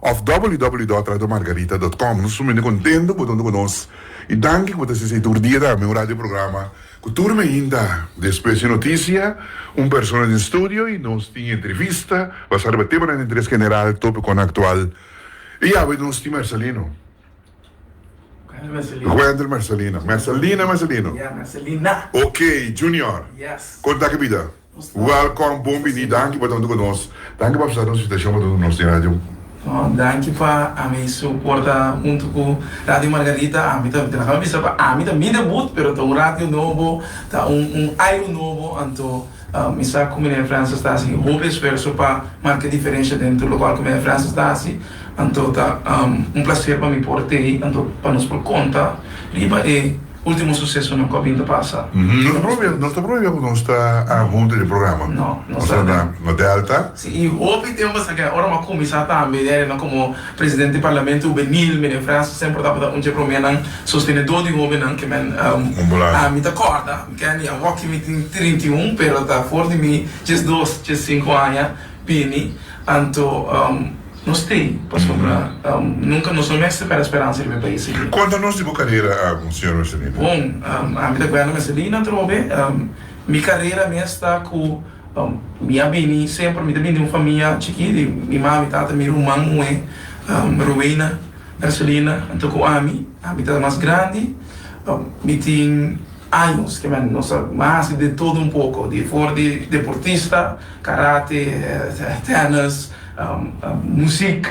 Of www.radiomargarita.com Nos suminte contento bo tonto cu nos y danki cu bo ta sese tur dia tambe un radio programa cu tur biyin ta despues di noticia un persona den studio y nos tin entrevista basa riba temanan di interes general, topiconan actual y awe nos tin Marcelino. Wender Mercelina. Mercelina, Mercelino? Ya, Mercelina. Ok, Junior. Yes. Kon ta ke bida? Welkom, bon bini, danki pa ta huntu ku nos. Danki pa apsesa nos invitashon pa ta huntu ku nos den radio. No, danki pa ami su por ta huntu ku Radio Margarita. Ami ta, laga mi bisa, pa ami ta mi debut, pero ta un radio nobo, ta un un airu nobo, anto. Mi sa cu Meneer Francis ta haci hopi esfuerso pa marca e diferencia dentro e local cu Meneer Francis ta haci, anto ta un placer pa mi por ta ey, anto pa nos por conta riba e ultimo sucesonan cu a bin ta pasa. Nos ta probia, nos ta probia cu nos ta hunto den e programa. No, nos ta na Delta. Si, y hopi tempo a sa aki, ora bo a cuminsa tambe den reunion como Presidente di Parlamento Hubenil, Meneer Francis semper tabata un dje promer nan sostenedor di hobennan, que men, mi ta corda. Kenny, Awoki mi tin trinta i un, pero ta for di mi djes dos, djes sinku aña bini. Anto no stay pasobra nunka nos no mester pèrdè speransa riba e pais aki. Konta nos di bo karera, Señor Messelina. Bon, ami ta Werner Messelina atrobe. Mi karera mes ta ku mi a bini semper, mi ta bini di un famia chikí di mi mami, tata, mi ruman muhé Rowena Messelina anto ku ami. Ami ta mas grandi, mi tin Años ke men nos a masha de todo un poko, di for di deportista, karate, tennis, musik,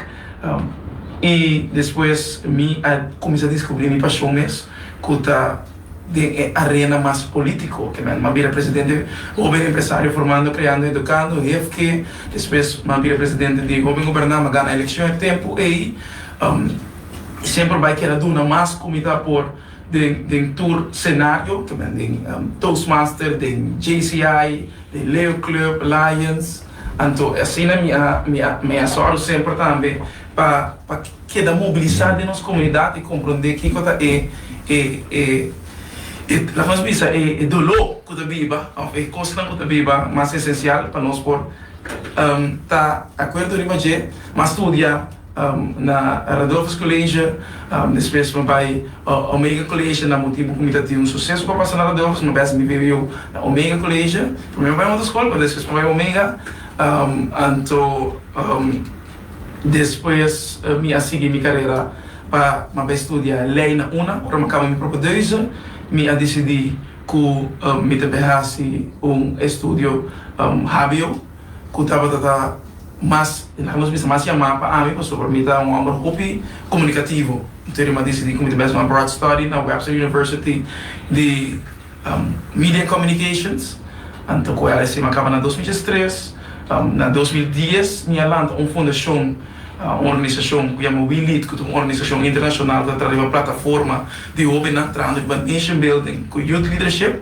i despues mi a kuminsá diskubrí mi pashon mes ku ta den e arena mas polítiko, ke men m'a bira presidente Hoben Empresario Formando, Creando, Educando, HEFKE, despues m'a bira presidente di Hoben Goberná, m'a gana elekshon e tempu ei, i semper bai kera duna mas ku mi ta por. Den tur senario, kimen den Toastmaster, den JCI, den Leo Club, Lions, anto e asina mi a sòru semper tambe pa keda mobilisá den nos komunidat i komprondé kiko ta e, laga nos bisa, e doló ku ta biba òf e kosnan ku ta biba mas esensial pa nos por ta akuerdo riba dje, mas studia. Na Radolfus College, despues mi bai Omega College, na motibu ku mi ta tin un suseso pa pasa na Radolfus, mi bes mi biabiu na Omega College. Primero mi bai otro skol, pero despues mi bai Omega, anto despues mi a sigui mi karera pa mi a bai studia lei na una. Ora mi a kaba mi propio deuze, mi a disidi ku mi ta bai hasi un estudio hbo. cu tabata ta mas, na nos mester mas yama pa ami pasobra mi ta un homber hopi comunicativo. Entonces ri m'a decidi cu mi ta mester un broad study na Webster University di Media and Communications. Anto cu LSC m'a caba na dos miles tres, na dos mil dies mi a lanta un fundacion, un organisacion cu yama We Lead cu ta un organisacion internacional cu ta traha riba plataforma di hobennan trahando riba nation building cu youth leadership.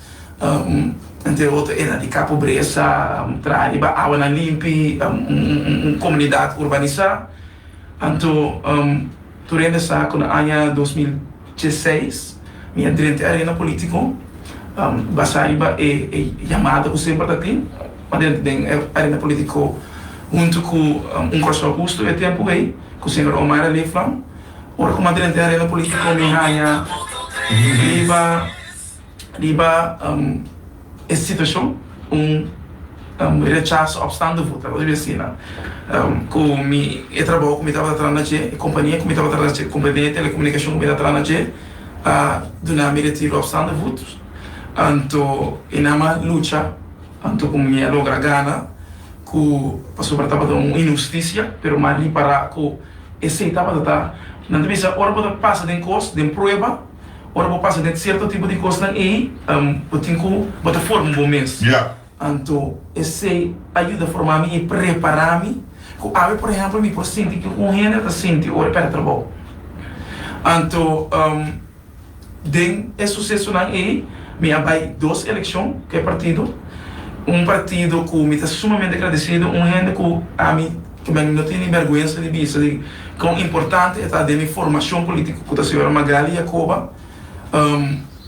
Entre otro e na di ka pobresa, traha riba awanan limpi, un komunidat urbanisá. Anto, tur hende sa ku na aña dos mil dieseis mi a drenta e arena polítiko basá riba e yamada ku semper ta tin. Mi a drenta den e arena polítiko huntu ku un Kòrsou Hustu e tempu ei, ku señor Omar a lefnan. Ora ku mi a drenta e arena polítiko mi haña riba Riba e situacion un rechaso opstando vota lo debe asina cu mi e trabajo cu mi tabata trana dje e compania cu mi tabata trana dje compania de telecomunicacion cu mi ta trana dje a duna mi retiro opstando voto anto e nan a lucha anto cu mi a logra gana cu pasobra tabata un inhusticia pero mi a ripara cu esey tabata ta nan ta bisa ora bo ta pasa den cos den prueba Ora bo pasa den cierto tipo di cosnan ey, bo tin cu bo ta forma bo mes. Anto esey a yuda forma mi y prepara mi cu awe, por ehempel, mi por sinti kico un hende ta sinti ora e perde trabao. Anto den e sucesonan ey mi a bay dos eleccion cu e partido, un partido cu mi ta sumamente agradecido, un hende cu ami. Kuma mi no tene bèrgwensa di bisa di kon importante e ta den mi formashon polítiko ku ta señora Magaly Jacoba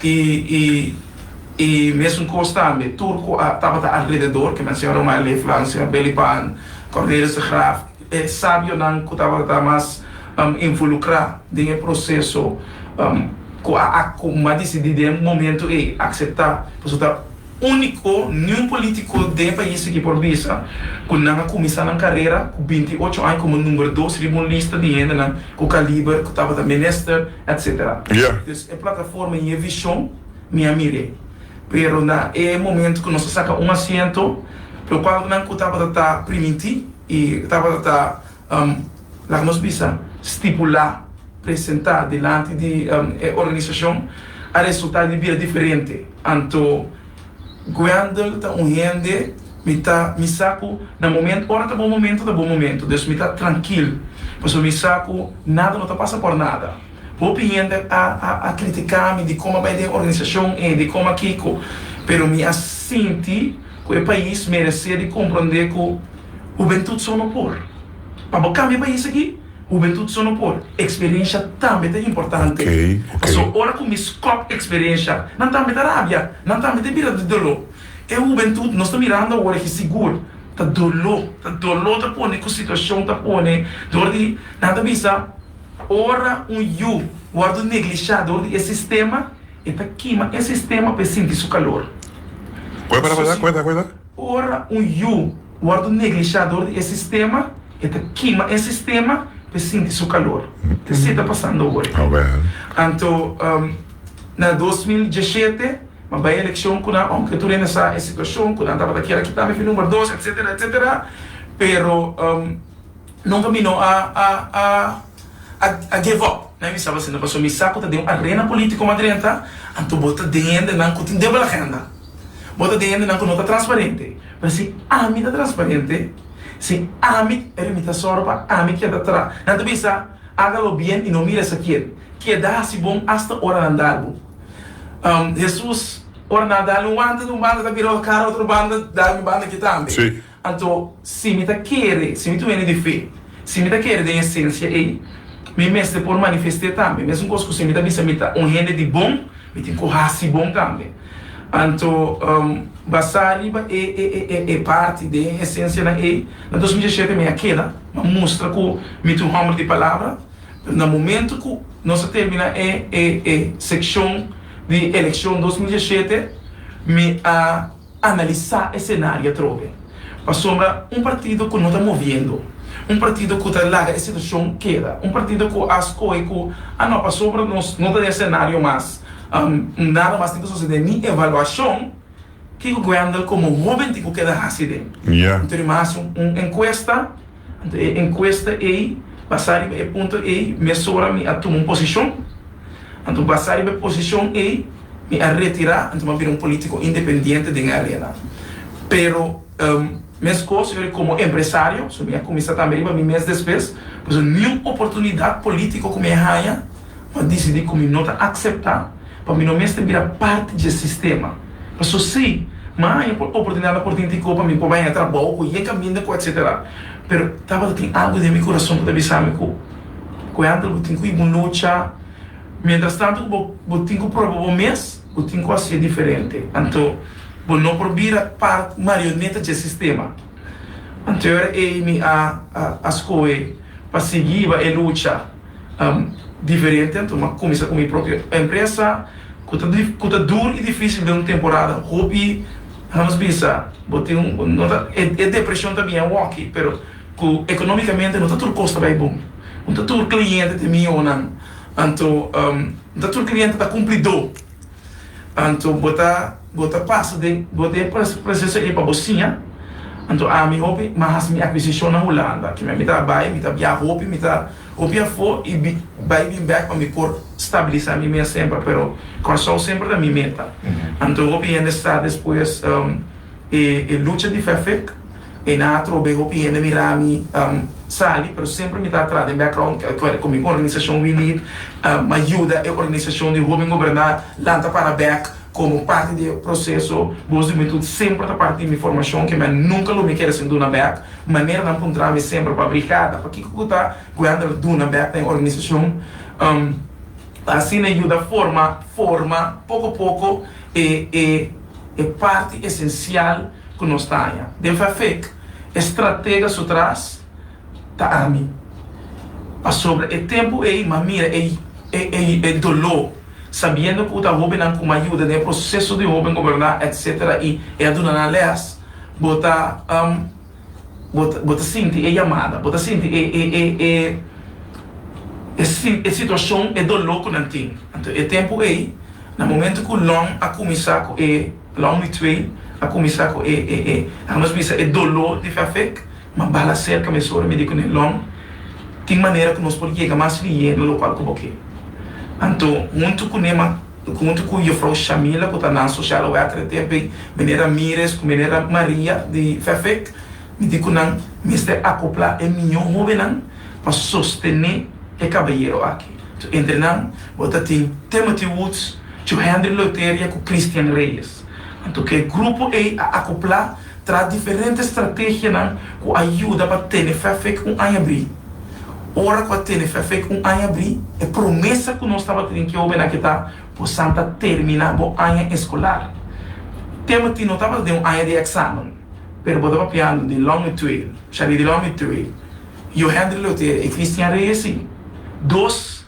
i mesun kos tambe tur ku a tabata alrededor kende ta señora Omar Leeflandt, señor Belly Pan, Cornelius de Graaf, e sabionan ku tabata mas involukrá den e proseso ku a ak ku mi a disidí den momentu ei akseptá pasobra ta. úniko niun polítiko den pais aki por bisa ku nan a kuminsá nan karera ku binti i ocho aña komo number dos riba un lista di hendenan ku kaliber ku tabata minister etsetera. Entonces e plataforma i e vishon mi a mir'é. Pero na e momento ku nos a saka un asiento lokual nan ku tabata ta primintí i tabata ta. laga nos bisa, stipulá, presentá dilanti di e organisashon a resultá di bira diferente. Anto Guendel ta un hende mi ta mi sa ku na momentu ora ta bon momentu ta bon momentu dus mi ta trankil pasobra mi sa ku nada no ta pasa por nada. Hopi hende a kritiká mi di kon mi a bai den organisashon ei di kon mi a kiko pero mi a sinti ku e pais meresé di komprondé ku. Hubentut so no por. Pa bo kambia pa esaki, hubentut so no por. Eksperensha tambe ta importante. Paso ora ku mi skòp eksperensha, nan tambe ta rabia, nan tambe ta bira di doló. E hubentut nos ta mirando awor aki sigur ta doló, ta doló ta pone ku situashon ta pone dor di nan ta bisa ora un yu wòrdu neglishá dor di e sistema, e ta kima e sistema pa e sinti su kalor. Su si. Ora un yu wòrdu un neglishá dor di e sistema, e ta kima e sistema pa e sinti su kalor. Ta esei ta pasando ora. Anto, na dos mil diesshete, mi a bai elekshon ku nan, ounke tur hende sa e situashon ku nan tabata kier a kita mi fu number dos, etsetera, etsetera, pero nunka mi no a give up. Mi a bisa asina pasobra mi sa ku ta den un arena polítiko mas drenta, anto bo ta den hendenan ku tin debel agenda. Bo ta den hendenan ku no ta transparente. Pero si ami ta transparente, si ami ri mi ta sòru pa ami keda atrás, nan ta bisa, Haga lo bien y no mires a quién. Keda hasi bon asta ora nan dal bo. Hesus, ora nan a dal mi un banda di un banda, ta bira otro kara otro banda, dal mi banda aki tambe. Anto, si mi ta kere, si mi ta un hende di fe, si mi ta kere den esensia ei, mi mester por manifest'é tambe. Mesunkoss ku si mi ta bisa mi ta un hende di bon, mi tin ku hasi bon tambe. Anto, basá riba e parti den esensianan ei, na dos mil diesiete mi a keda, mi a mustra ku mi ta un hòmber di palabra. Na momentu ku nos a terminá e sekshon di elekshon dos mil diesiete, mi a. analisá e senario atrobe, pasobra un partido ku no ta moviendo, un partido ku ta laga e situashon keda, un partido ku a skohe ku a no pasobra nos no ta den e senario mas, nada mas tin ke sosede ni evaluashon, kiko Wendel komo hoben tin ku keda hasi den? Anto di mas un enkuesta? Anto e enkuesta ei basá riba e punto ei mesora mi a tuma un posishon. Anto basá riba e posishon ei mi a retirá, anto mi a bira un polítiko independiente den e arena. Pero meskos yori komo empresario, so mi a kuminsá tambe riba mi mes despues, pasobra niun oportunidat polítiko ku mi a haña, mi a disidí ku mi no ta akseptá. Pa mi no mester bira parti dje sistema. Paso si, m'a haña por oportunidat na Portin Ticó pa mi por bay na trabou cu e caminda cu etc. Pero tabata tin algu den mi curason cu ta bisa mi cu, Coyandel bo tin cu ibu lucha, mientras tanto cu bo tin cu proba bo mes, bo tin cu haci'e diferente. Anto bo no por bira parti, marioneta dje sistema. Anto e ora ey mi a scohe pa sigui iba e lucha. diferente anto m'a kuminsá ku mi propio empresa ku ta dur i difísil den un temporada hopi nan nos bin sa bo tin un no ta e depreshon ta bini awor aki pero ku ekonomikamente no ta tur kos ta bai bon no ta tur kliente ta mihó nan anto no ta tur kliente ta kumplidó. Anto bo ta bo ta pasa den bo den proceso ey pa bo siña anto ami hopi mi a haci mi aquisicion na Hulanda kimen mi ta bay mi ta biaha hopi mi ta hopi afo y bi bay bin back pa mi por stabiliza mi mes semper pero Kòrsou semper ta mi meta anto hopi hende sa despues. E e lucha di fé fik e na atrobe hopi hende mira mi sali pero semper mi ta atrás den background cu mi organisacion We Lead ma yuda e organisacion di hoben goberna lanta para bek como parti di e proceso bos di hubentud semper ta parti di mi formacion ke mi a nunca lo mi kere sin duna bek manera nan puntra mi semper pa brigada pakico cu ta cu e ander duna bek den organisacion asina e yuda forma forma poco poco. e e e parti esencial cu nos ta haña. Den Fafec e stratega su tras ta ami. Pasobra e tempo ey m'a mira e e e e dolo sabiendo cu ta hobennan cu m'a yuda den e proceso di hoben goberna etc. Y e a duna nan les, bo ta um. Bo ta bo ta sinti e yamada, bo ta sinti e e e e e si e situashon, e doló ku nan tin. Anto e tempu ei, na momentu ku lòm a kuminsá ku e, lòm di twee a kuminsá ku e e e laga nos bisa e doló di fèfèk, ma bala serka mesora mi di ku ne lòm, tin manera ku nos por yega mas lihé na lokual ku bo ke. Anto huntu ku ne ma. N hunti ku Yufrou Shamila ku ta nan Sosial Werker e tempu ei, Mene Ramires ku Mene Maria di Fefec. Mi di ku nan mester akopla e miyon hobennan pa sostené e kabayero aki. Entre nan bo ta tin Timothy Woods, Joe Henry Loiteria ku Christian Reyes. Anto ku e grupo ei a akopla. Tras diferente strategianan cu a yuda pa tene fe fec un aña bri. Ora cu a tene fe fec un aña bri, e promesa cu nos tabatin den Keo Bena ke ta, Bosan ta termina bo aña escolar. Tema tin no tabata den un aña di examen, pero bo ta papiando di Long Mituel, Charity Long Mituel, Johendry Lotera y Christian Reyes, si. Dos.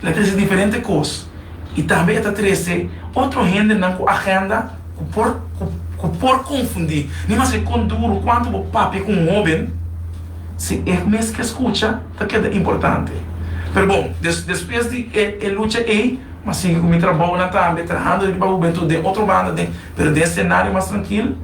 E ta trece diferente cos y tambe e ta trece otro hendenan cu agenda cu por cu por confundi. Ni mas ke con duro cuanto bo papia cu un hoben, si e mes ke scucha ta keda importante. Pero bon, des despues di e e lucha ey m'a sigui cu mi trabaonan tambe trahando riba pa Hubentud den otro banda den pero den scenario mas trankil.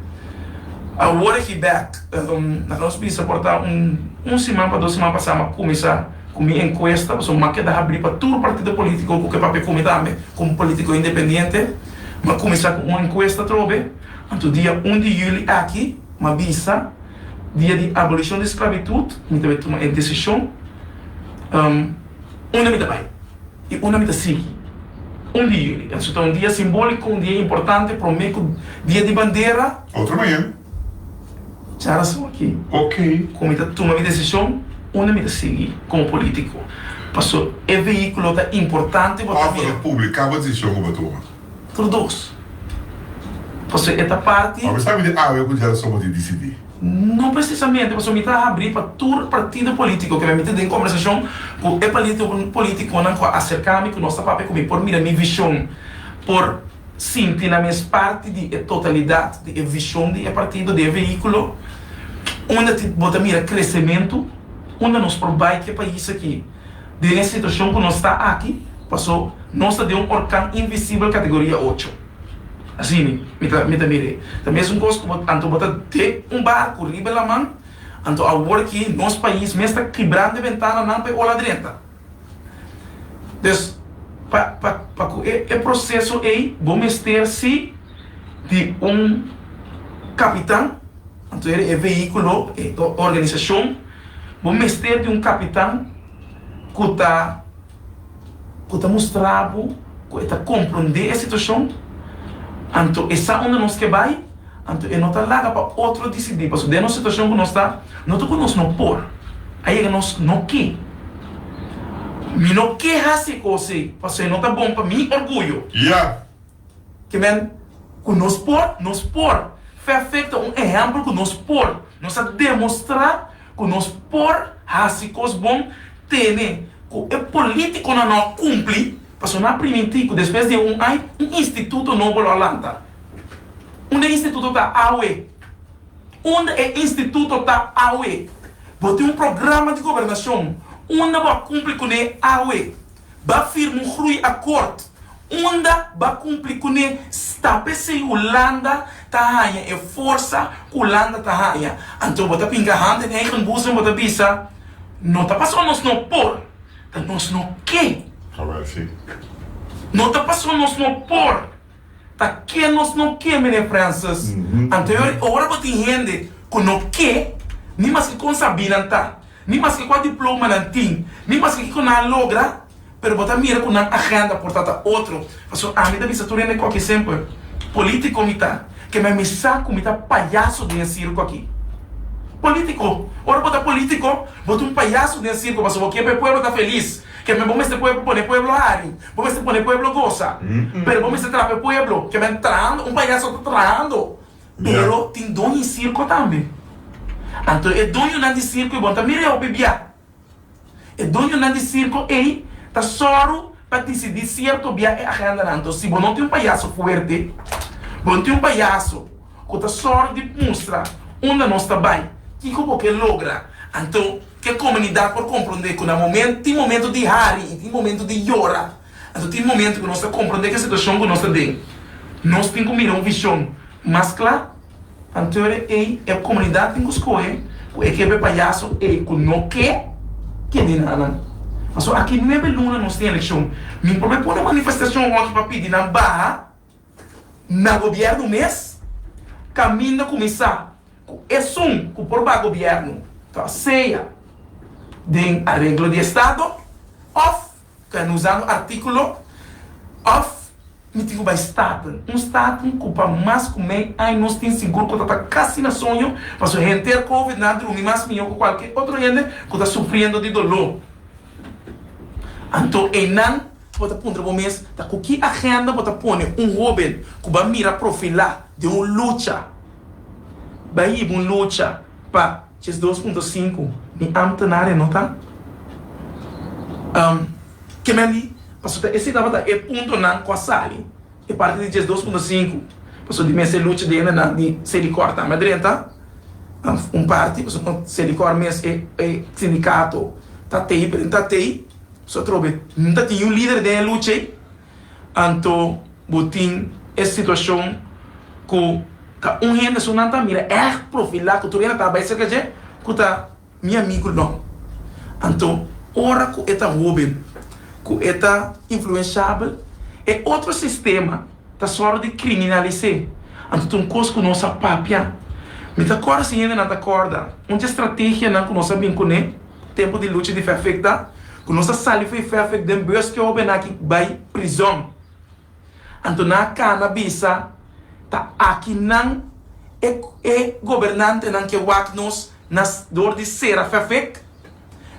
Awor aki bek, um, laga nos bisa por ta un un siman pa dos siman pasá m'a cuminsa. Ku mi enkuesta pasobra mi a keda habri pa tur partido politico ku ke papia ku mi tambe ku un politico independiente, mi a kuminsá ku un enkuesta atrobe, anto dia un di yuli aki mi a bisa dia di abolishon di sklabitut mi ta tuma e desishon unda mi ta bai i unda mi ta sigui. Un di yuli, esun ta un dia simbóliko, un dia importante promé ku dia di bandera. Otro manera, Dja razon aki. Cu mi ta tuma mi decision unda mi ta sigui como politico. Paso e vehiculo ta importante pa mi. Of lo publica bo decision cu bo tuma? Tur dos. Paso e ta parti. Bo sabi di awe cu dja razon bo tin dicidi? No precisamente, paso mi ta habri pa tur partido politico cu mi a miti den conversacion cu e politiconan cu a acerca mi cu nos ta papia cu mi por mira mi vision por. sinti nan mes parti di e totalidat di e vishon di e partido, di e vehíkulo, unda tin bo ta mira kresementu, unda nos por bai ku e pais aki den e situashon ku nos ta aki, paso nos ta den un orkan invisibel kategoria ocho. Asina mi ta mi ta mira e. Ta mesun kos ku bo anto bo ta den un barku riba e laman, anto awor ki nos pais mes ta kibrando e bentananan pa e ola drenta. Pues, pa pa pa ku e e proseso ei bo mester sí di un kapitan, anto e veíkulo, e organisashon, bo mester di un kapitan ku ta ku ta mustra bo ku e ta komprondé e situashon, anto e sa unda nos ke bai. Anto e no ta laga pa otro disidí, pasobra den nos situashon ku nos ta, no ta ku nos no por. A yega nos no ke. Mi no ke hasi kos ei, pasobra e no ta bon pa mi orguyo. Ya. Ke men ku nos por, nos por. Fefek ta un ehèmpel ku nos por. Nos a demostrá ku nos por hasi kos bon, tene ku e polítikonan no a kumpli. Pa sona primintiku, despues di e un ai, un instituto nobo lo a lanta. Unda e instituto ta awe? Unda e instituto ta awe? Bo tin un programa di gobernacion unda bo a cumpli cune awe? Ba firma un grui akkoord unda ba cumpli cune? Sta pesey Hulanda ta haña e forsa cu Hulanda ta haña. Anto bo ta pinga hand in eigen boezem, bo ta bisa, No ta pasobra nos no por. Ta nos no ke. Hawel si. No ta paso nos no por. Ta ke nos no ke Mene Francis. Anterior e ora bo tin hende ku no ke ni maske kon sabí nan ta, ni maske kua diploma nan tin, ni maske kiko nan a logra, pero bo ta mira ku nan agenda por ta ta otro. Paso ami ta bisa tur hende koki semper politico mi ta, kema mi sa ku mi ta payaso den e sirko aki. Politico, ora bo ta politico bo ta un payaso den e sirko paso bo kier pa e pueblo ta felis, kema bo mester pone pueblo hari, bo mester pone pueblo gosa, pero bo mester traha pa e pueblo, kema e trahando, un payaso ta trahando, pero tin doño di sirko tambe, anto e doñonan di sirko i bon ta mira e hopi bia. E duñonan di sirko ei ta sòru pa disidí sierto bia e agendanan. Anto si bo no tin un payaso fuerte, bo tin un payaso ku ta sòru di mustra unda nos ta bai, kiko bo ke logra. Anto, ke komunidat por komprondé ku na momen tin momentu di hari i tin momentu di yora. Anto tin momento cu nos ta comprende cu e situacion cu nos ta den nos tin cu mira un vision mas cla. Antere ey e comunidad tin cu scohe cu e ke be payaso ey cu no ke kende na nan. Pasobra aki nuebe luna nos tin eleccion. Mi probe pone manifestacion hochi pa pidi nan baha na gobierno mes caminda cu mi sa cu esun cu por baha gobierno ta sea den areglo di estado of. Cu nos a un articulo of mi tin cu bay staten. Un staten cu pa mas cu mey aña nos tin sigur cu ta ta casi na soño pasobra henter covid nan drumi mas miho cu cualkier otro hende cu ta sufriendo di dolo. Anto eynan bo ta puntra bo mes ta cu ki agenda bo ta pone un hoben cu bay mira profila den un lucha bay hiba un lucha pa Ches dos punto sinku, Mi ambtenaria no ta am kem'e li, paso ta ese tabata e puntonan kua sali e parti di ches dos punto sinku, paso di mester lucha dende nan di Sedicor tambe a drenta am un parti, paso no Sedicor mes e e sindicato ta tei, ta tei, paso atrobe no ta tin yu lider den e lucha ei. Anto bo tin e situacion cu ta un hende su nan ta mira echt profila cu tur hende ta bai cerca dje cu ta mi amigo no. Anto ora cu e ta hoben, cu e ta influenciabel e otro sistema ta sor di criminalise. Anto ta un cos cu nos a papia. Mi ta corda si hende nan ta corda un dje strategianan cu nos a bin cune. Tempu di lucha di fe afek ta ku nos ta sali fo'i fe afek den bos ke hoben aki bai prizòn. Anto nan a kana bisa, Ta aki nan e e gobernantenan ke wak nos na dor di sera fe afek?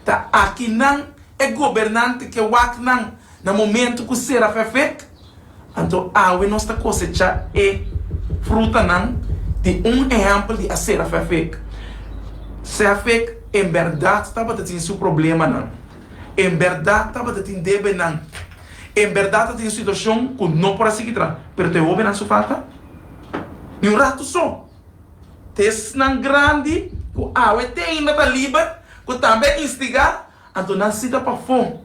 Ta aki nan e gobernante ke wak nan? Na momentu ku sera fefet, anto awe nos ta kosechá e frutanan di un ehèmpel di asera fefet. Sefek en bèrdat tabata tin su problemanan. En bèrdat tabata tin debenan. En bèrdat a tin situashon ku no por a sigui tras, pero ta e hóbennan su falta? Di un ratu so, ta esnan grandi ku awe te ainda ta liber ku tambe a instigá Anto nan sita pafó.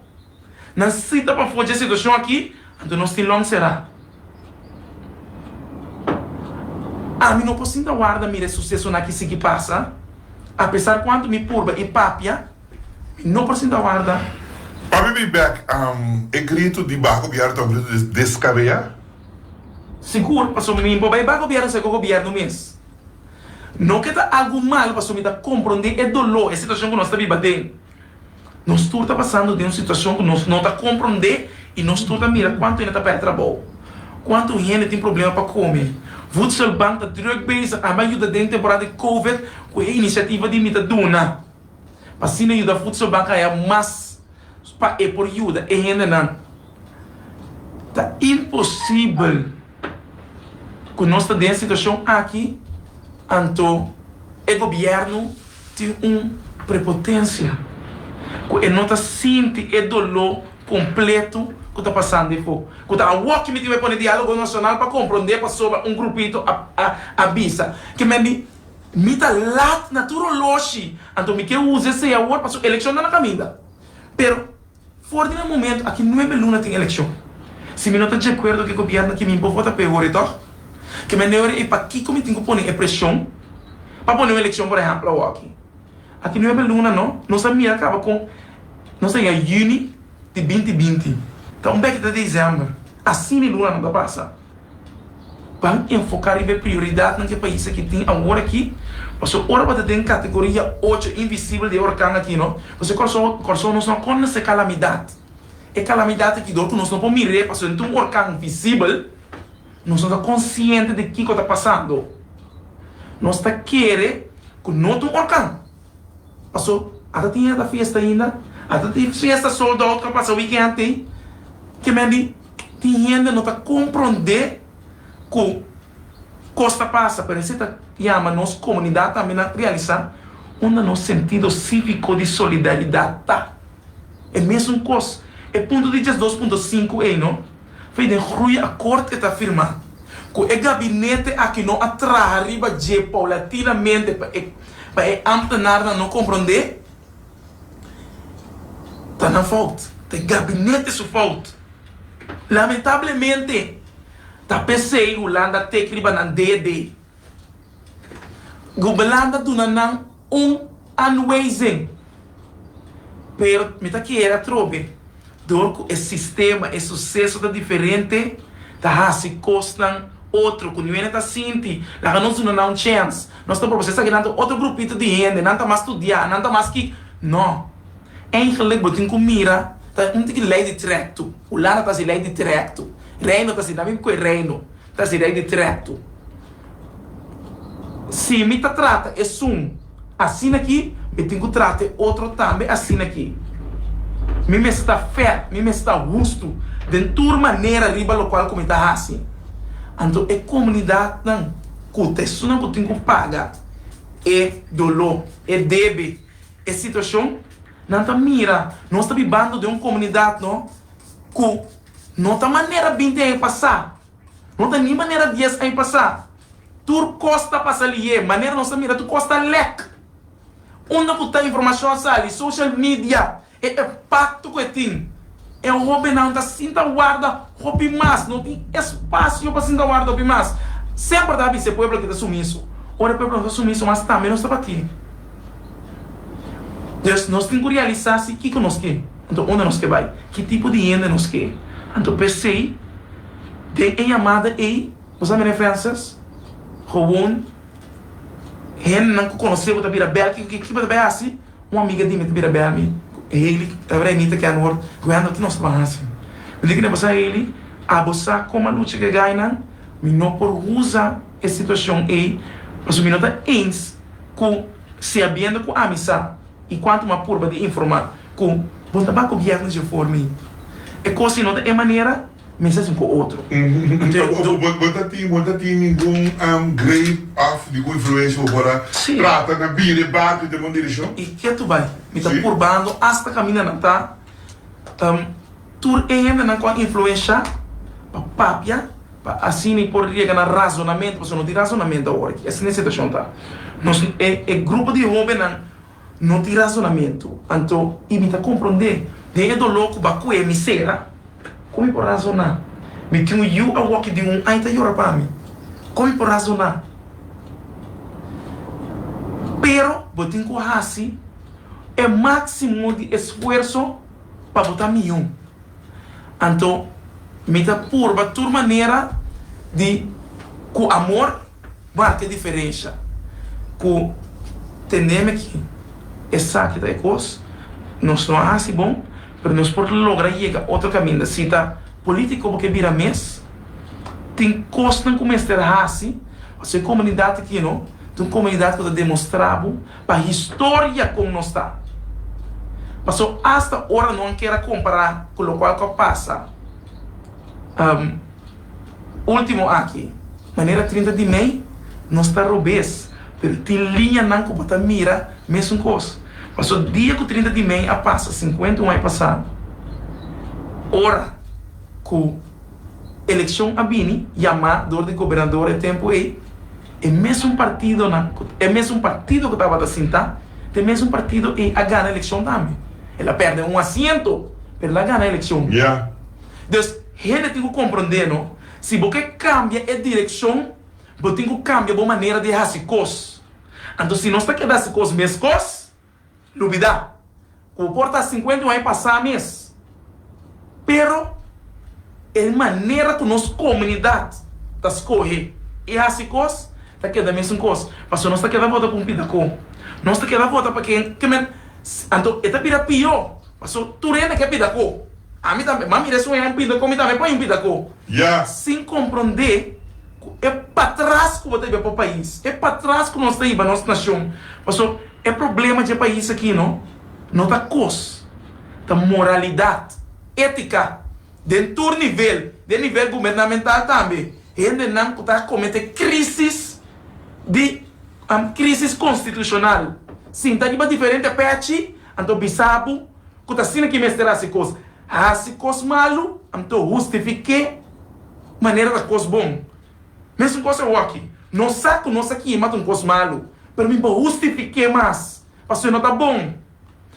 Nan sita pafó dje situashon aki, anto nos tin lònt será. Ami no por sinta warda mira e susesonan aki sigui pasa. Apesar kuantu mi purba i papia, mi no por sinta warda. Pape mi bèk! E gritu di baku bièrnu ta un gritu descabeá. Sigur, pasobra mi por bai baku bièrnu seko gobièrnu mes. No ke ta algu mal pasobra mi ta komprondé e doló, e situashon ku nos ta biba den. Nos tur ta pasando den un situashon ku nos no ta komprondé i nos tur ta mira kuantu hende ta pèrdè trabou, kuantu hende tin problema pa kome. Voedselbank ta drùk bezig ami a yuda den temporada di covid ku e inisiativa di Mi Ta Duna pa asina yuda Voedselbank haya mas pa e por yuda e hendenan. Ta imposibel ku nos ta den situashon aki, anto e gobièrnu tin un prepotensia ku e no ta sinti e doló kompletu ku ta pasando e po. Ku ta awor ki mi tin bai pone diálogo nashonal pa komprondé pasobra un grupito a bisa ke mei mi Mi ta lat na tur oloshi, anto mi ke usa esei awor paso elekshon ta na kaminda. Pero for di nan momento aki nuebe luna tin elekshon. Si mi no ta djekuerdo ku e gobièrnu aki mi bobo ta peore tòg. Ke mi a neoria i pakiko mi tin ku pone e preshon pa pone un elekshon por ehèmpel awoki. Aki nuebe luna no, nos a mira kaba kon nos a yega juni di binti binti. Ta un bèk ta desèmber. Asina e lunanan ta pasa. Ban enfoká riba e prioridatnan ku e pais akí tin awor akí, pasobra ora bo ta den kategoria ocho invisibel di e orkan akí no, nos e kòrsou kòrsou nos no a konta se kalamidat. E kalamidat akí dor ku nos no por mir'é pasobra nan ta un orkan visibel, nos no ta konsiente di kiko ta pasando. Nos ta kere ku no ta un orkan paso ata tin e ta festa ainda, ata tin festa sold out ku a pasa wikènt ei, ke men di. Tin hende no ta komprondé ku kos ta pasa, pero esei ta yama nos komunidat tambe na realisá unda nos sentido síviko di solidaridat ta. E mesun kos, e punto di djesdos punto sinku ei no fei den gruiakort e ta firmá ku e gabinete aki no a traha riba dje paulatinamente pa e pa e ámtenarnan no komprondé. Ta nan fout, ta e gabinete su fout. Lamentablemente ta pesey Hulanda teki riba nan DD. Gubelanda duna nan un anwijzing, pero mi ta kere atrobe. Dor cu e sistema, e suceso ta diferente, ta haci cosnan otro cu niuena ta sinti, laga nos duna nan un chance, nos ta proba si esaki nan ta otro grupito di hende, nan ta mas studia, nan ta mas ki, no. Eigenlijk bo tin cu mira, ta un tiki ley di trecto, Hulanda ta haci ley di trecto, Reino ta haci nan mismo cu e Reino. Ta sera e di trètu. Si mi ta trata esun asina aki, mi tin ku trata e otro tambe asina aki. Mi mester ta fèr, mi mester ta hustu den tur manera riba lokual ku mi ta hasi. Anto e komunidatnan ku ta esunnan ku tin ku paga e doló, e debe, e situashon, nan ta mira nos ta bibando den un komunidat ku No ta manera binti aña pasá. No ta ni manera dies aña pasá. Tur kos ta pasa li'é. Manera nos ta mira tur kos ta lèk. Unda ku ta informashon sali? Social media. E epakto ku e tin. E hóbennan ta sinta warda hopi mas. No tin espasio pa sinta warda hopi mas. Semper ta bisa e pueblo ke ta sumiso. Ora e pueblo no ta sumiso mas tambe nos tabatin. Pues nos tin ku realisá si kiko nos ke. Anto unda nos ke bai? Ki tipo di hende nos ke? Anto p'esei den e yamada ei bo sa mira ofensas? Gewoon hendenan ku konosebo ta bira bèl. Kiko bo ta bai hasi? Un amiga di mi ta bira bèl mi ku Hailey, tabata Anita Kenworth, ku Handel. Ki nos ta ban hasi? Mi diken di bo sa, Hailey, abo sa kon a lucha ku e gainan? Mi no por usa e situashon ei pasobra mi no ta ins ku si habiendo ku ami sa. I cuanto mas purba di informa cu bo ta baco viernes dje for mi e cos si no ta e manera mi sa sin cu otro. Bo ta tin bo ta tin ningun grey of ningun influencia cu bo por a trata na bira e barco den bon direccion? I ke tu bay mi ta purbando hasta camina na ta. Tur e hendenan ku a influenshá pa papia pa asina e por riega na razonamentu, pasobra no tin razonamentu awor aki. Asina e situashon ta. Nos, e, e grupo di hóbennan no tin razonamentu. Anto i mi ta komprondé, den e doló ku ba kue mi sera, kon mi por razoná? Mi tin un yu awor ki di un aña ta yora pa mi, kon mi por razoná? Pero bo tin ku hasi e máksimo di esfuerso. pa bo ta miun. Anto mi ta purba tur manera di ku amor marka e diferensha, ku tenemi aki. Esaki ta e kos, nos no a hasi bon, pero nos por logra yega otro kaminda. Si ta polítiko bo ke bira mes, tin kosnan ku mester hasi pasobra e komunidat aki no ta un komunidat ku ta demostrá bo. Pa historia con nos ta. Paso hasta ora no a kier a compara cu locual cu a pasa ultimo aki. Manera trinta di mei nos ta robes, pero tin liñanan cu bo ta mira mesun cos. Paso dia cu trinta di mei a pasa cincuenta un ai pasa, ora cu. Elekshon a bini yamá dor di gobernador e tempu ei, e mesun partidonan, e mesun partido ku tabata sintá ta e mesun partido ei a gana elekshon tambe. El a pèrdè un asiento, pero el a gana elekshon. Dus, hende tin ku komprondé no, si bo ke kambia e direkshon, bo tin ku kambia bo manera di hasi kos. Anto si nos ta keda hasi kos meskos, lubidá ku por ta sinkuenta i un aña pasá mes, pero e manera ku nos komunidat ta skohe i hasi kos ta keda mesun kos, pasobra nos ta keda vota ku un pidakó, nos ta keda vota pa ken ke men. Anto e ta bira pió, pasobra tur hende ke pidakó. Ami tambe, mami resu un aña un pidakó, mi tambe por un pidakó, sin komprondé ku e patras ku bo ta biba pa pais, e patras ku nos ta hiba nos nashon, pasobra. E problema dje pais aki no, no ta kos, ta moralidat, etika, den tur nivel, den nivel gubernamental tambe, hende nan ku ta komete krisis di krisis konstitushonal, sinta riba diferente pèchi, anto bisa bo ku ta asina ki mester hasi kos, hasi kos malu, anto hustifiké manera ta kos bon. Mesun kos awòkki. Nos sa ku nos a kima ta un kos malu, pero mi bo hustifik'é mas, pasobra no ta bon.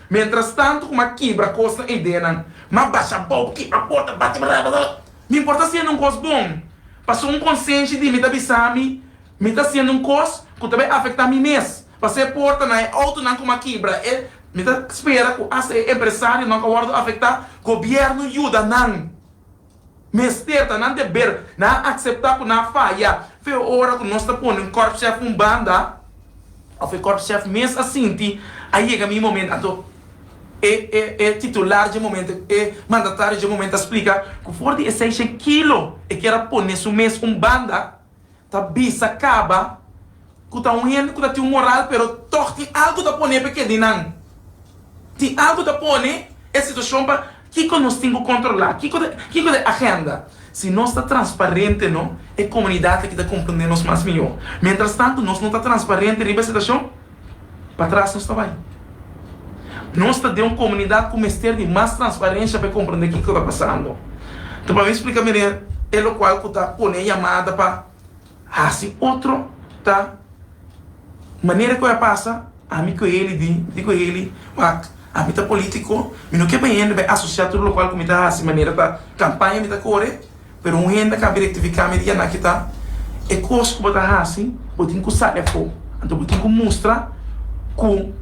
Mientrastantu, kuma a kibra kosnan e ideanan, m'a basha bou, kibra porta, bati brada. Mi por ta hasiendo un kos bon, pasobra un konsenshi di mi ta bisa mi mi ta hasiendo un kos ku ta bai afektá mi mes. Pas'é e portanan, e outonan ku m'a kibra, e mi ta spera ku asta e empresarionan a wòrdu afektá, gobièrnu yuda nan. Mester ta nan deber. Nan a acepta cu nan a faya. Fe ora cu nos ta pone un korpschef un banda, of e korpschef mes a sinti, a yega mi momento, anto e e titular dje momento, e mandatario dje momento a splica cu for di e seishen kilo e kier a pone su mes un banda, Ta bisa caba cu ta un hende cu ta tin un moral pero tog tin algo ta pone pe keda di nan. Tin algo ta pone e situacion pa kico nos tin cu controla, kico ta kico ta e agenda. Si nos ta transparente no e comunidad aki ta comprende nos mas mijo. Mientras tanto nos no ta transparente riba e situacion. Patras nos ta bai. Nos ta den un komunidat ku mester di mas transparensia pa e komprendé kiko ta pasando. Ta pa mi splika meneer elokual ku ta pone e yamada pa hasi otro ta manera ku a pasa ami ku heli di di ku heli wak ami ta politiko mi no ke bay hende bay asosia tur lokual ku mi ta hasi manera ta kampaña mi ta kore. Pero un hende cu a bira e tv-camera y a na kita e cos cu bo ta haci, bo tin cu sali afo. Anto bo tin cu mustra cu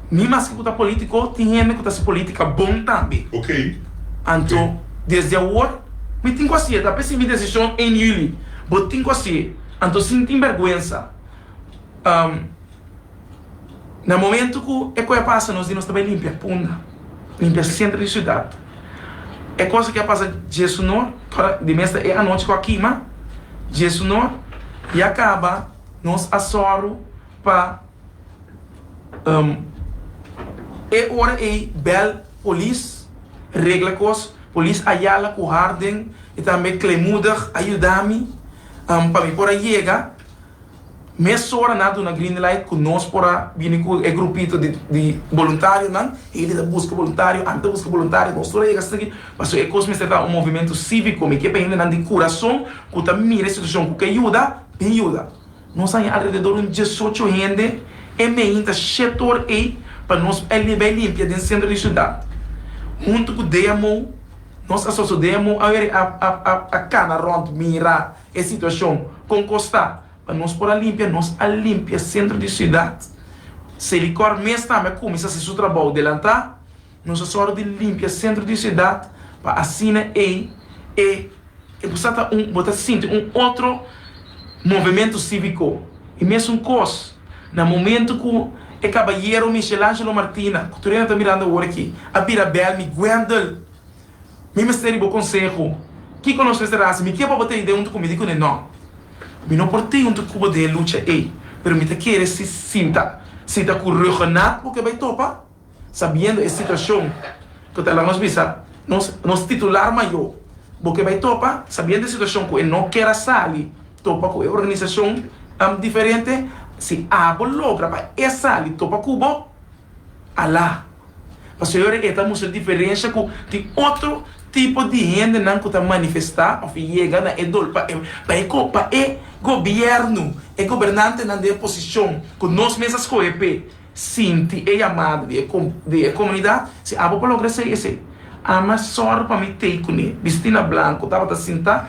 mi maske cu ta politico, tin hende cu ta haci politica bon tambe. Anto, desde awor, mi tin cu haci'e. Ta p'esey mi decision één juli. Bo tin cu haci'e. Anto, sin tin berguensa. Na momento cu e coe a pasa nos di nos ta bay limpia punda, limpia centro di ciudad. E cosa que a pasa dje su nor, ora di mester e anochi cu a kima, dje su nor ya caba nos a soru pa e ora ey bel polis regla cos, polis Ayala cu Harden y tambe Klemoedig a yuda mi pa mi por a yega. Mesora nan a duna green light ku nos por a bini ku e grupito di boluntarionan. Hende ta buska boluntario, ami ta buska boluntario, nos tur a yega esaki. Pasobra e kos mester ta un movimentu síviko. Mi ke pa hendenan di kurason ku ta mira e situashon ku ke yuda, bin yuda. Nos haña alrededor un diesocho hende e meen ta shèt or ei pa nos bai limpia den sentro di siudat. Huntu ku DMO, nos asosio DMO a kana rònt mira. E situacion con costa pa nos por a limpia, nos a limpia centro di ciudad, Selicor mes tambe a cuminsa haci su trabao delanta, nos a sor di limpia centro di ciudad pa asina ey e e por sa ta un bo ta sinti un otro movemento civico y mesun cos na momento cu e cabayero Michelangelo Martina cu tur ena ta mirando awor aki a bira bel mi Guendel Mi mester di bo konseho. Kiko nos mester hasi? Mi kier pa bo ta yud'é huntu ku mi? Di kuné nò. Mi no por t'e huntu ku bo den e lucha ei, pero mi ta kere si sinta sita ku Rhuggenaath bo ke bai topa, sabiendo e situashon ku ta la nos bisa nos nos titular mayó. Bo ke bai topa, sabiendo e situashon ku e no kier a sali topa ku e organisashon diferente. Si abo logra pa e sali topa ku bo. Alá. Pasobra e ta mustra diferensha ku tin otro tipo di hendenan ku ta manifestá òf yega na e dol pa e pa e gobièrnu, e gobernantenan di e posishon ku nos mes a skohe p'e, sinti e yamada di e di e komunidat. Si abo por logra hasi esei, ama sòru pa mi t'ei kuné bistí na blanku tabata sintá,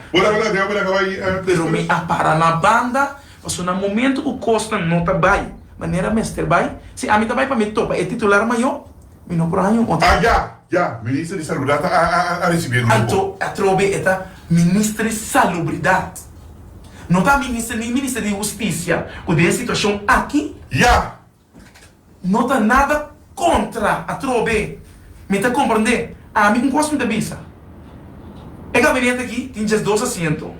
pero mi a para na banda Pasobra na momento ku kosnan no ta bai manera mester bai, si ami ta bai pa mi topa e titular mayó, mi no por haña un otro. Ah, ya, ya, Minister di Salubridad a risibí e grupo. Anto, atrobe e ta Minister di Salubridad, no ta Minister ni Minister di Hustisia, ku den e situashon aki. Ya, No ta nada contra atrobe mi ta comprende ami un cos mi ta bisa e gabinete aki tin djes dos asiento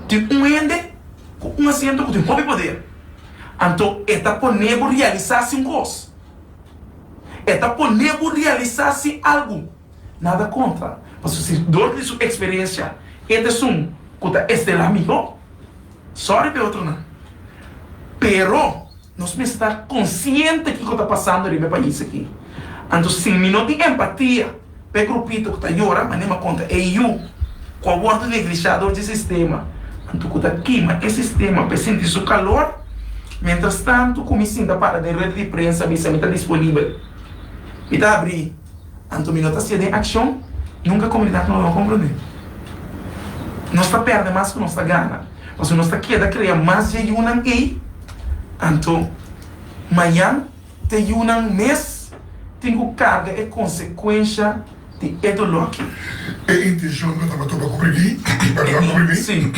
tin un hende cu un asiento cu tin hopi poder anto e ta pone bo realisa si un cos e ta pone bo realisa si algo nada contra pasobra si dor di su experiencia e ta esun cu ta estel la miho. Sorry p'e otronan, pero nos mester ta konsiente kiko ta pasando riba e pais aki. Anto si mi no tin empatia p'e grupito ku ta yora manema kontra e yu ku a wòrdu neglishá dor di e sistema, anto ku ta kima e sistema p'e sinti su kalor, miéntras tantu ku mi sinta para den red di prensa bisa mi ta disponibel, mi ta abrí. Anto mi no ta hacia den accion, nunca comunidad no lo comprende. Nos ta perde mas cu nos ta gana. Pasobra nos ta keda crea mas dje yunan ey, anto mayan te yunan mes tin cu carga e consecuencia di e dolor aki. E intencion no tabata pa coprimí, pero lo coprimí. Sí,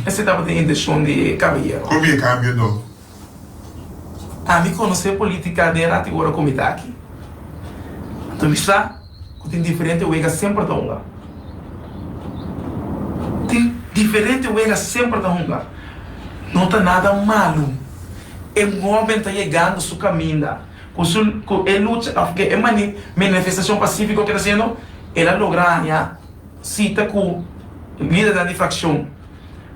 ese tabata e intencion di e caballero. Con mi e cambio no. a mi conoce politica den rati ora cu mi ta aki. Anto mi sa cu tin diferente wega semper ta hunga. Tin diferente wega semper ta hunga. No ta nada malo e momen ta yegando su caminda cu su cu e lucha of cu e mani menefestacion pacifico cu e ta haciendo el a logra haña cita cu lidernan di fraccion.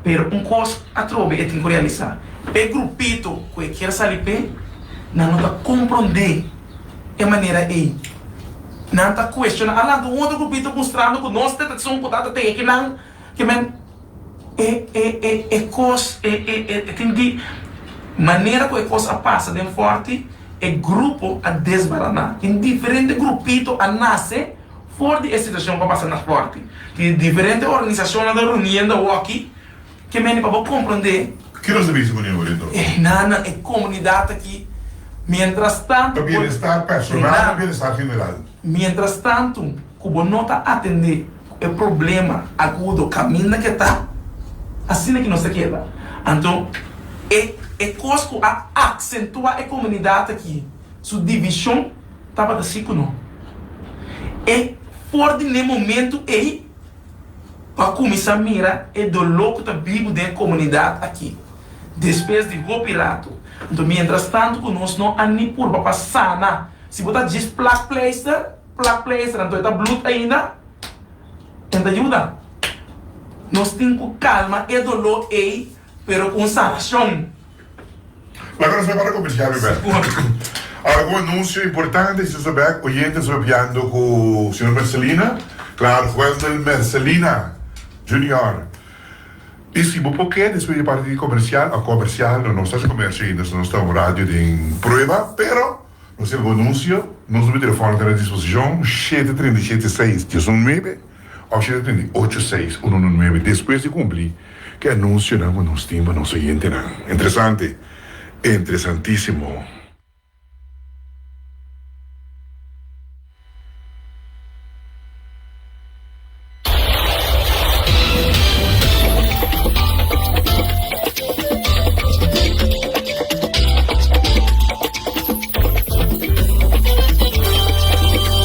Pero un kos atrobe e tin ku realisá, e grupito ku e kier sali p'e, nan no ta komprondé e manera ei. Nan ta kuestioná alanti un otro grupito mustrando ku nos detekshon ku ta ta tege kinan ke men e kos e tin di manera ku e kos a pasa den fòrti e grupo a desbaraná. Tin diferente grupito a nase For di e situacion pa pasa na corte, tin e diferente organisacionnan ta reuniendo awaki, ke mende pa bo comprende. Ki nos ta bisa ku Union Oriental? E hinannan, e comunidad aki, mientras tanto. Pa bienestar personal, pa bienestar general. Mientras tanto ku bo no ta atende ku e problema agudo kaminda ke ta, asina ke nos ta keda. Anto, e e kos ku a accentua e comunidad aki su division. Tabata si ku no. E for di ne momentu ei pa kuminsá mira e doló ku ta bibu den e komunidat aki despues di hopi ratu. Anto miéntras tantu ku nos no a ni purba pa sana, si bo ta djis plakpleister, plakpleister anto e ta blut ainda, e no ta yuda. Nos tin ku kalma e doló ei pero ku un sanashon. Laga nos prepara ku mishia Rivert. Ora ku anunsio importante si nos ta bek oyente nos papiando ku señor Mercelina claro Wendel Mercelina Junior y si bo por ke despues di parti di comercial a comercial no nos ta haci comercio ainda nos ta un radio den prueba pero nos tin algun anunsio nos numero di telefono ta na disposicion shete treinta i shete seis dies un nuebe. Option a trinta i ocho seis uno uno nuebe despues di cumpli ki anunsionan cu nos tin pa nos oyentenan. Interesante! Interesantisimo!